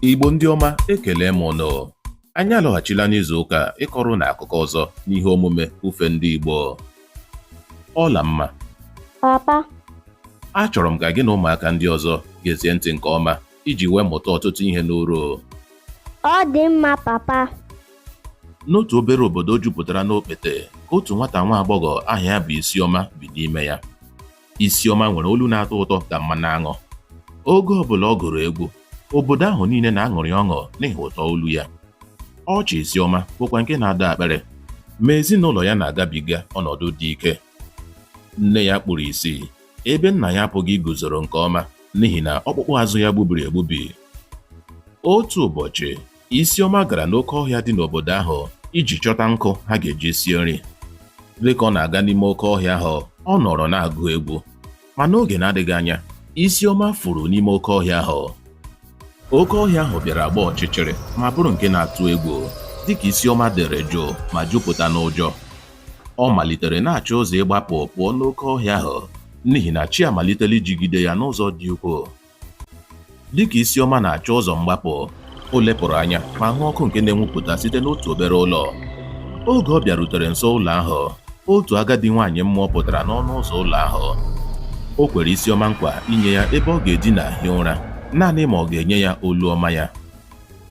Igbo ndị ọma ekele m ụnụ anyị alọghachila n'izu ụka a ịkọrọ ụnụ akụkọ ọzọ n'ihe omume ufe ndị Igbo Ọlamma papa achọrọ m ka gị na ụmụaka ndị ọzọ gezie ntị nke ọma iji wee mụta ọtụtụ ihe n'uru ọ dị mma papa n'otu obere obodo jupụtara n'okpete ka otu nwata nwa agbọghọ aha ya bụ Isioma bi n'ime ya Isioma nwere olu na-atọ ụtọ ka mmanụ aṅụ. Oge ọbụla ọ gụrụ egwu, obodo ahụ niile na-aṅụrị ọṅụ n'ihi ụtọ olu ya. Ọchị Isioma bụkwa nke na-adọ akpịrị, ma ezinụlọ ya na-agabiga ọnọdụ dị ike. Nne ya kpuru isi, ebe nna ya apụghị iguzoro nke ọma n'ihi na ọkpụkpụ azụ ya gbubiri egbubi. Otu ụbọchị, Isioma gara n'oke ọhịa dị n'obodo ahụ iji chọta nkụ ha ga-eji sie nri. Dịka ọ na-aga n'ime oke ọhịa ahụ, ọ nọrọ na-agụ egwu. Ma n'oge na-adịghị anya, Isioma furu n'ime oke ọhịa ahụ. Oke ọhịa ahụ bịara gbaa ọchịchịrị ma bụrụ nke na-atụ egwu. Dịka Isioma dere jụụ ma jupụta n'ụjọ, ọ malitere na-achọ ụzọ ịgbapụ pụọ n'oke ọhịa ahụ n'ihi na chi amalitela ijigide ya n'ụzọ dị ukwuu. Dịka Isioma na-achọ ụzọ mgbapụ, o lepụrụ anya ma hụ ọkụ nke na-enwupụta site n'otu obere ụlọ. Oge ọ bịarutere nso ụlọ ahụ, otu agadi nwaanyị mmụọ pụtara n'ọnụ ụzọ ụlọ ahụ. O kwere Isioma nkwa inye ya ebe ọ ga-edina hie ụra, naanị ma ọ ga-enye ya olu ọma ya.